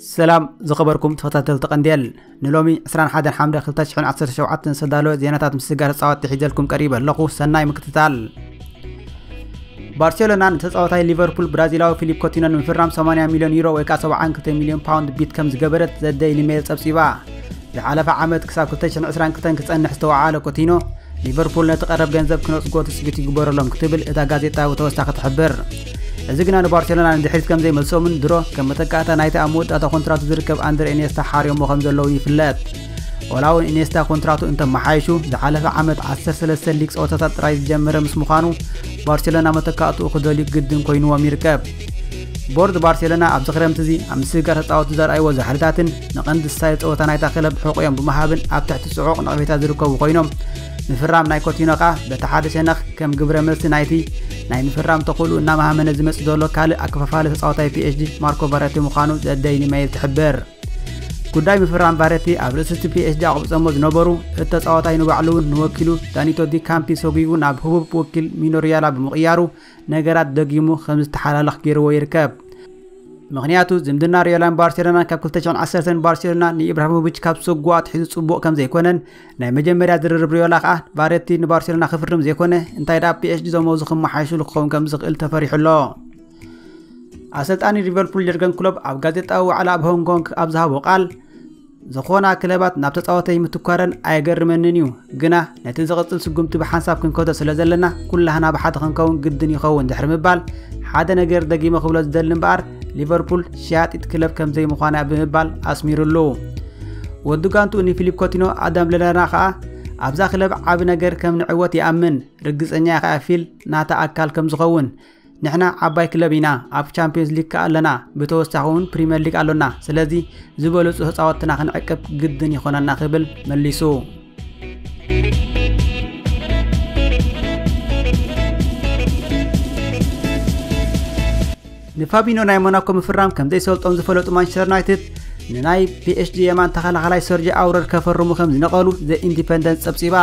ሰላም ዝኸበርኩም ተኸታተልቲ ቀንዴል ንሎሚ 21 ሓምለ 2017 ዝተዳለወ ዜናታት ምስጋር ተፃወቲ ሒዘልኩም ቀሪበ ኣለኹ ሰናይ ምክትታል ባርሴሎና ንተፃወታይ ሊቨርፑል ብራዚላዊ ፊሊፕ ኮቲኖ ንምፍራም 80 ሚልዮን ዩሮ ወይ ከዓ 72 ሚልዮን ፓውንድ ቢት ከም ዝገበረት ዘደይሊ ሜል ፀብፂባ ዝሓለፈ ዓመት ክሳብ ክልተ ሽሕን ዕስራን ክልተን ክጸንሕ ዝተወዓለ ኮቲኖ፣ ሊቨርፑል ነቲ ቀረብ ገንዘብ ክነጽጎ ትጽቢት ይግበረሎም ክትብል እታ ጋዜጣ ብተወሳኺ ትሕብር። እዚ ግና ንባርሴሎና ንድሕሪት ከም ዘይመልሶምን ድሮ ከም መተካእታ ናይቲ ኣብ መወዳእታ ኮንትራቱ ዝርከብ ኣንድረ ኢንየስታ ሓርዮሞ ከም ዘለዉን ይፍለጥ። ዋላ'ውን ኢንየስታ ኮንትራቱ እንተመሓይሹ ዝሓለፈ ዓመት ዓሰርተ ሰለስተ ሊግ ጸወታታት ጥራይ ዝጀመረ ምስ ምዃኑ ባርሴሎና መተካእትኡ ክደልዩ ግድን ኮይንዎም ይርከብ። ቦርድ ባርሴሎና ኣብዚ ክረምቲ እዚ ኣብ ምስግጋር ተፃወቲ ዘርኣይዎ ዛሕልታትን ንቐንዲ ስታይል ፀወታ ናይታ ክለብ ሕቑዮም ብምሃብን ኣብ ትሕቲ ፅዑቕ ነቕፌታ ዝርከቡ ኮይኖም ምፍራም ናይ ኮቲኖ ከኣ በቲ ሓደ ሸነኽ ከም ግብረ መልሲ ናይቲ ናይ ምፍራም ተኽእሉ እናመሃመነ ዝመጽእ ዘሎ ካልእ ኣከፋፋሊ ተጻዋታይ ፒኤችዲ ማርኮ ቫረቲ ምዃኑ ዘደይኒ መይል ትሕብር ጉዳይ ምፍራም ቫረቲ ኣብ ርእሲ እቲ ፒኤችዲ ኣቕብጸሞ ዝነበሩ እቲ ተጻዋታይ ንባዕሉ እውን ንወኪሉ ዳኒቶ ዲ ካምፒ ሰጒጉ ናብ ህቡብ ወኪል ሚኖሪያላ ብምቕያሩ ነገራት ደጊሙ ከም ዝተሓላለኽ ገይርዎ ይርከብ። ምኽንያቱ ዝምድና ሪዮላን ባርሴሎናን ካብ 2010 ባርሴሎና ንኢብራሂሞቪች ካብ ሰጉ ኣትሒዙ ጽቡቕ ከም ዘይኮነን ናይ መጀመርያ ዝርርብ ሪዮላ ከኣ ባሬቲ ንባርሴሎና ክፍርም ዘይኮነ እንታይ ደኣ ፒኤስጂ ዘመዙ ክመሓየሽሉ ክኸውን ከም ዝኽእል ተፈሪሑ ኣሎ። ኣሰልጣኒ ሊቨርፑል የርገን ክሎፕ ኣብ ጋዜጣዊ ዋዕላ ኣብ ሆንግ ኮንግ ኣብ ዝሃቦ ቃል ዝኾና ክለባት ናብ ተጻወተይ ምትኳረን ኣየገርመንን እዩ፣ ግና ነቲ ዝቕጽል ስጉምቲ ብሓንሳብ ክንከቶ ስለ ዘለና ኩላህና ብሓደ ክንከውን ግድን ይኸውን ድሕሪ ምባል ሓደ ነገር ደጊመ ክብሎ ዝደሊ እምበኣር ሊቨርፑል ሸያጢት ክለብ ከም ዘይምዃና እያ ብምባል ኣስሚሩሉ። ወዲ ጋንትኡ ንፊሊፕ ኮቲኖ ኣዳም ለለና ከኣ ኣብዛ ክለብ ዓቢ ነገር ከም ንዕወት ይኣምን፣ ርግጸኛ እየ ከኣ ፊል ናታ ኣካል ከም ዝኸውን፣ ንሕና ዓባይ ክለብ ኢና ኣብ ቻምፒዮንስ ሊግ ከኣ ኣለና ብተወሳኺ እውን ፕሪምየር ሊግ ኣሎና ስለዚ ዝበለፁ ተፃወትና ክንዕቅብ ግድን ይኾነና ክብል መሊሱ ንፋቢኖ ናይ ሞናኮ ምፍራም ከም ዘይሰልጦም ዝፈለጡ ማንቸስተር ዩናይትድ ንናይ ፒኤስጂ የማን ተኸላኻላይ ሰርጂ ኣውረር ከፈርሙ ከም ዝነቐሉ ዘ ኢንዲፐንደንት ፀብፂባ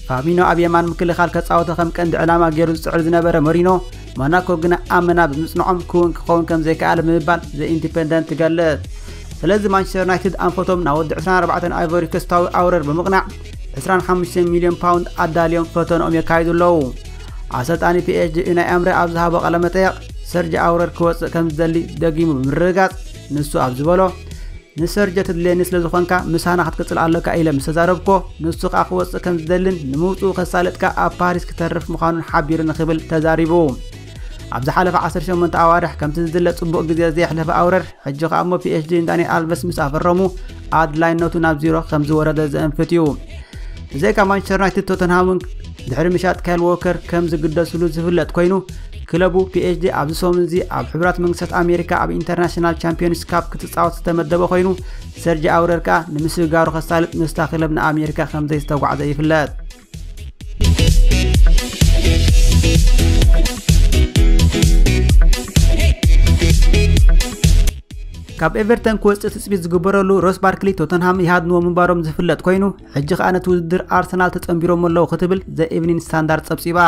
ፋቢኖ ኣብ የማን ምክልኻል ከጻወተ ከም ቀንዲ ዕላማ ገይሩ ዝጽዕር ዝነበረ መሪኖ ሞናኮ ግና ኣብ መና ብምጽንዖም ክውን ክኸውን ከም ዘይከኣለ ብምባል ዘ ኢንዲፐንደንት ትገልጽ ስለዚ ማንቸስተር ዩናይትድ ኣንፈቶም ናብ ወዲ 24 ኣይቮሪ ኮስታዊ ኣውረር ብምቕናዕ 25 ሚልዮን ፓውንድ ኣዳልዮም ፈተንኦም የካይዱ ኣለዉ ኣሰልጣኒ ፒኤስጂ ዩናይ ኣምረ ኣብ ዝሃቦ ቃለመጠየቕ ሰርጂ ኣውረር ክወፅእ ከም ዝደሊ ደጊሙ ብምርግጋፅ ንሱ ኣብ ዝበሎ ንሰርጀ ትድልየኒ ስለ ዝኾንካ ምሳና ክትቅጽል ኣሎካ ኢለ ምስ ተዛረብኮ ንሱ ከኣ ክወጽእ ከም ዝደልን ንምውጽኡ ከሳለጥካ ኣብ ፓሪስ ክተርፍ ምዃኑን ሓቢሩኒ ክብል ተዛሪቡ ኣብ ዝሓለፈ 18 ኣዋርሕ ከምቲ ዝድለ ጽቡቕ ግዜ ዘየሕለፈ ኣውረር ሕጂ ከኣ እሞ ፒኤችዲ ንዳንኤል ኣልቨስ ምስ ኣፈረሙ ኣድላይነቱ ናብ ዚሮ ከም ዝወረደ ዘእንፍት እዩ ብዘይካ ማንቸስተር ዩናይትድ ቶተንሃምን ድሕሪ ምሻጥ ካይል ዎከር ከም ዝግደስሉ ዝፍለጥ ኮይኑ ክለቡ ፒኤስጂ ኣብዚ ሰሙን እዚ ኣብ ሕቡራት መንግስታት ኣሜሪካ ኣብ ኢንተርናሽናል ቻምፒዮንስ ካፕ ክትፃወት ዝተመደበ ኮይኑ ሰርጂ ኣውረር ከዓ ንምስግጋሩ ከሳልጥ ምስታ ክለብ ንኣሜሪካ ከምዘይዝተጓዕዘ ይፍለጥ ካብ ኤቨርተን ክወፅእ ትፅቢት ዝግበረሉ ሮስ ባርክሊ ቶተንሃም ይሃድንዎ ምንባሮም ዝፍለጥ ኮይኑ ሕጂ ከኣ ነቲ ውድድር ኣርሰናል ተጸንቢሮሞ ኣለዉ ክትብል ዘ ኢቭኒን ስታንዳርድ ጸብጺባ።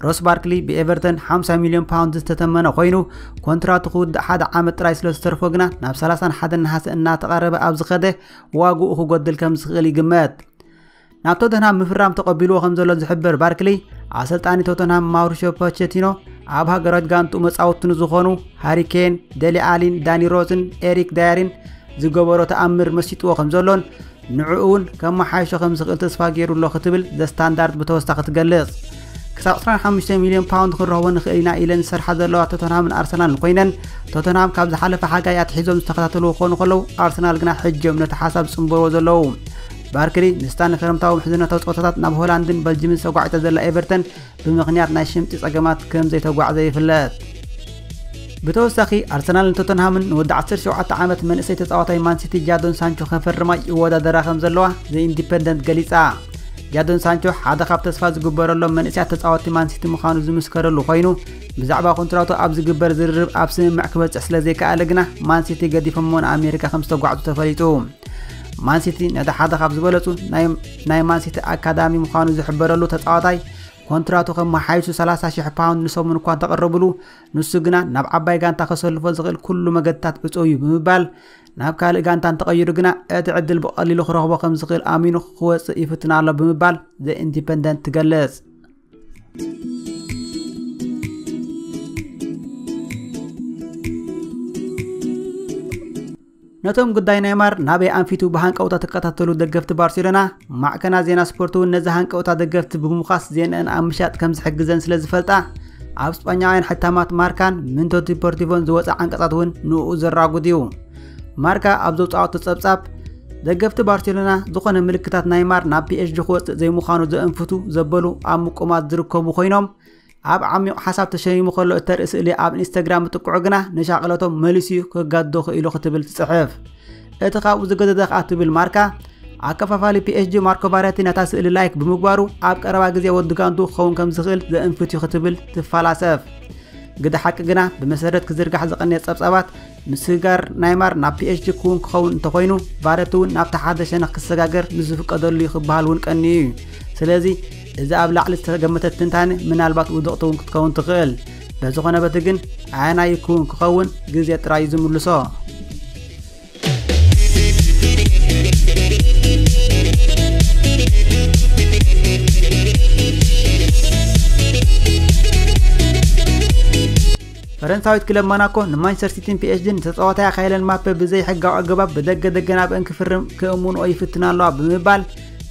ሮስ ባርክሊ ብኤቨርተን 50 ሚልዮን ፓውንድ ዝተተመነ ኮይኑ ኮንትራቱ ክውድእ ሓደ ዓመት ጥራይ ስለ ዝተርፎ ግና ናብ 31 ነሓሰ እናተቐረበ ኣብ ዝኸደ ዋግኡ ክጎድል ከም ዝኽእል ይግመት። ናብ ቶተንሃም ምፍራም ተቐቢልዎ ከም ዘሎ ዝሕብር ባርክሊ ኣሰልጣኒ ቶተንሃም ማውሪሾ ፖቸቲኖ ኣብ ሃገራዊት ጋንቱ መጻወቱ ንዝኾኑ ሃሪኬን፣ ደሊ ኣሊን፣ ዳኒ ሮዝን ኤሪክ ዳየሪን ዝገበሮ ተኣምር መሲጥዎ ከም ዘሎን ንዕኡ'ውን ከመሓይሾ ከም ዝኽእል ተስፋ ገይሩ ኣሎ ክትብል ዘ ስታንዳርድ ብተወሳኺ ትገልጽ። ክሳብ 25 ሚልዮን ፓውንድ ክንረኽቦ ንኽእል ኢና ኢለን ዝሰርሓ ዘለዋ ቶተንሃምን ኣርሰናልን ኮይነን ቶተንሃም ካብ ዝሓለፈ ሓጋይ ኣትሒዞም ዝተኸታተልዎ ክኾኑ ከለዉ ኣርሰናል ግና ሕጂዮም ነቲ ሓሳብ ዝጽንበርዎ ዘለዉ ባርክሊ ንስታ ንክረምታዊ ምሕዝነታዊ ጸወታታት ናብ ሆላንድን በልጅምን ሰጓዒታ ዘላ ኤቨርተን ብምኽንያት ናይ ሽምጢ ጸገማት ከም ዘይተጓዕዘ ይፍለጥ። ብተወሳኺ ኣርሰናል ንቶተንሃምን ንወዲ 17 ዓመት መንእሰይ ተጻዋታይ ማንሲቲ ጃዶን ሳንቾ ከፈርማ ይወዳደራ ከም ዘለዋ ዘ ኢንዲፐንደንት ገሊጻ። ጃዶን ሳንቾ ሓደ ካብ ተስፋ ዝግበረሎም መንእሰያት ተጻወትቲ ማንሲቲ ምዃኑ ዝምስከረሉ ኮይኑ ብዛዕባ ኮንትራቱ ኣብ ዝግበር ዝርርብ ኣብ ስምምዕ ክበጽሕ ስለ ዘይከኣለ ግና ማንሲቲ ገዲፎሞ ንኣሜሪካ ከም ዝተጓዕዙ ተፈሊጡ። ማንሲቲ ነቲ ሓደ ካብ ዝበለጹ ናይ ናይ ማንሲቲ ኣካዳሚ ምዃኑ ዝሕበረሉ ተጻዋታይ ኮንትራቱ ከመሓይሱ 30 ሽሕ ፓውንድ ንሰሙን እኳ እንተቐረብሉ ንሱ ግና ናብ ዓባይ ጋንታ ከሰልፎ ዝኽእል ኩሉ መገድታት ዕጹው እዩ ብምባል ናብ ካልእ ጋንታ እንተቐይሩ ግና እቲ ዕድል ብቐሊሉ ክረኽቦ ከም ዝኽእል ኣሚኑ ክወጽእ ይፍትን ኣሎ ብምባል ዘ ኢንዲፐንደንት ትገልጽ። ነቶም ጉዳይ ኔይማር ናበይ ኣንፊቱ ብሃንቀውታ ተከታተሉ ደገፍቲ ባርሴሎና ማዕከና ዜና ስፖርት እውን ነዚ ሃንቀውታ ደገፍቲ ብምዃስ ዜንአን ኣብ ምሻጥ ከም ዝሕግዘን ስለ ዝፈልጣ ኣብ ስጳኛውያን ሕታማት ማርካን ምንቶ ዲፖርቲቮን ዝወፀ ዓንቀጻት እውን ንኡ ዘራጉድ እዩ ማርካ ኣብ ዘውፃኦቶ ጸብጻብ ደገፍቲ ባርሴሎና ዝኾነ ምልክታት ናይማር ናብ ፒኤስጂ ክወፅእ ዘይምዃኑ ዘእንፍቱ ዘበሉ ኣብ ምቁማት ዝርከቡ ኮይኖም ኣብ ዓሚቕ ሓሳብ ተሸሚሙ ከሎ እተርኢ ስእሊ ኣብ ኢንስታግራም ምጥቅዑ ግና ንሻቕለቶም መሊሱ እዩ ክጋዶ ክኢሉ ክትብል ትጽሕፍ እቲ ካብኡ ዝገዘዘ ከኣ ትብል ማርካ ኣከፋፋሊ ፒኤስጂ ማርኮ ቫረቲ ነታ ስእሊ ላይክ ብምግባሩ ኣብ ቀረባ ግዜ ወዲ ጋንቱ ክኸውን ከም ዝኽእል ዘእንፍት እዩ ክትብል ትፈላሰፍ ግዲ ሓቂ ግና ብመሰረት ክዝርጋሕ ዝቐንየ ጸብጻባት ምስግጋር ናይ ማር ናብ ፒኤችዲ ክውን ክኸውን እንተኾይኑ ቫረቲ እውን ናብቲ ሓደ ሸነኽ ክሰጋገር ምስ ዝፍቀደሉ እዩ ክበሃል እውን ቀንዩ እዩ ስለዚ እዚ ኣብ ላዕሊ ዝተገመተ ትንታነ ምናልባት ውድቕቲ እውን ክትከውን ትኽእል በዚ ኾነ በቲ ግን ኣየናይ ክውን ክኸውን ግዜ ጥራይ እዩ ዝምልሶ ፈረንሳዊት ክለብ ሞናኮ ንማንቸስተር ሲቲን ፒኤስጂን ተጻዋታያ ካይለን ማፔ ብዘይሕጋዊ ኣገባብ ብደገ ደገን ኣብአን ክፍርም ክእምንኦ ይፍትና ኣለዋ ብምባል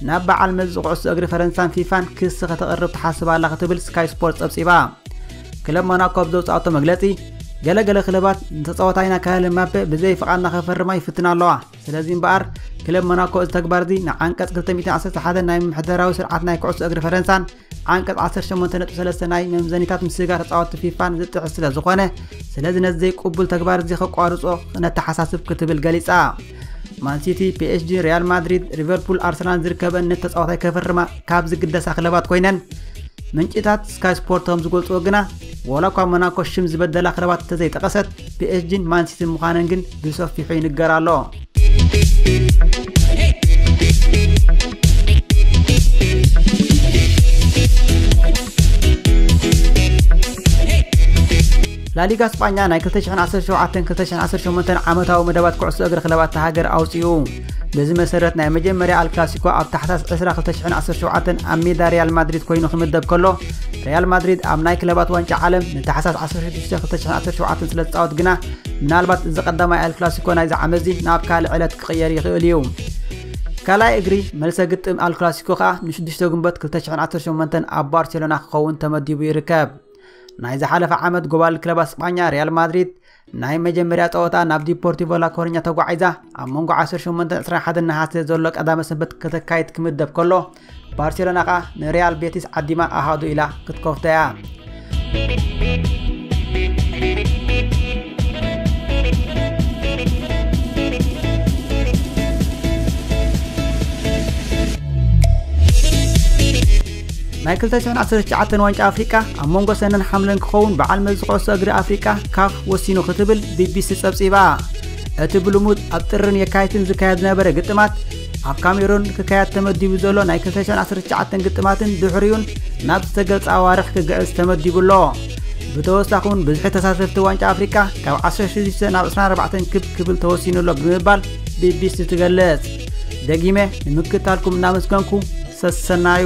ናብ በዓል መዚ ኩዕሶ እግሪ ፈረንሳን ፊፋን ክሲ ከተቕርብ ትሓስብ ኣላ ክትብል ስካይ ስፖርት ጸብጺባ ክለብ ሞናኮ ኣብ ዘውጽኣቶ መግለጺ ገለገለ ክለባት ንተጻዋታይና ካያለ ማፔ ብዘይ ፍቓድና ከፈርማ ይፍትና ኣለዋ ስለዚ እምበኣር ክለብ ሞናኮ እዚ ተግባር እዚ ንዓንቀጽ 211 ናይ ምምሕደራዊ ስርዓት ናይ ኩዕሶ እግሪ ፈረንሳን ዓንቀፅ 18.3 ናይ መምዘኒታት ምስጋር ተፃወቲ ፊፋን ዝጥሕስ ስለ ዝኾነ ስለዚ ነዚ ዘይቅቡል ተግባር እዚ ከቋርፆ ነተሓሳስብ ክትብል ገሊፃ ማንሲቲ ፒኤስጂ ሪያል ማድሪድ ሊቨርፑል ኣርሰናል ዝርከበን ነቲ ተፃዋታይ ከፍርማ ካብ ዝግደሳ ክለባት ኮይነን ምንጭታት ስካይ ስፖርት ከም ዝገልፅዎ ግና ዋላ እኳ ሞናኮ ሽም ዝበደላ ክለባት እንተዘይጠቐሰት ፒኤስጂን ማንሲቲን ምዃነን ግን ብሰፊሑ ይንገር ኣሎ ላሊጋ ስጳኛ ናይ 2017-2018 ዓመታዊ መደባት ኩዕሶ እግሪ ክለባት እታ ሃገር ኣውፅኡ በዚ መሰረት ናይ መጀመርያ ኣልክላሲኮ ኣብ ታሕሳስ 2017 ኣብ ሜዳ ሪያል ማድሪድ ኮይኑ ክምደብ ከሎ ሪያል ማድሪድ ኣብ ናይ ክለባት ዋንጫ ዓለም ንታሕሳስ 162017 ስለ ዝፃወት ግና ምናልባት እዚ ቀዳማይ ኤል ክላሲኮ ናይዚ ዓመትዚ ናብ ካልእ ዕለት ክቕየር ይኽእል እዩ። ካልኣይ እግሪ መልሰ ግጥም ኣል ክላሲኮ ከዓ ን6 ግንቦት 2018 ኣብ ባርሴሎና ክኸውን ተመዲቡ ይርከብ ናይ ዝሓለፈ ዓመት ጎባል ክለባት ስጳኛ ሪያል ማድሪድ ናይ መጀመርያ ፀወታ ናብ ዲፖርቲቮ ላኮርኛ ተጓዒዛ ኣብ መንጎ 18 21 ነሓሰ ዘሎ ቀዳመ ሰንበት ከተካይድ ክምደብ ከሎ ባርሴሎና ከኣ ንሪያል ቤቲስ ዓዲማ ኣሃዱ ኢላ ክትከፍቶ እያ ናይ 219 ዋንጫ ኣፍሪቃ ኣብ መንጎ ሰነን ሓምለን ክኸውን በዓል መዚ ኩዕሶ እግሪ ኣፍሪቃ ካፍ ወሲኑ ክትብል ቢቢሲ ጸብጺባ እቲ ብልሙድ ኣብ ጥርን የካይትን ዝካየድ ዝነበረ ግጥማት ኣብ ካሜሩን ክካየድ ተመዲቡ ዘሎ ናይ 219 ግጥማትን ድሕሪኡን ናብ ዝተገልጸ ኣዋርሕ ክግዕዝ ተመዲቡ ኣሎ ብተወሳኺ እውን ብዝሒ ተሳተፍቲ ዋንጫ ኣፍሪቃ ካብ 16 ናብ 24 ክብ ክብል ተወሲኑ ኣሎ ብምባል ቢቢሲ ትገልጽ ደጊመ ንምክታልኩም እናመስገንኩ ሰሰናዩ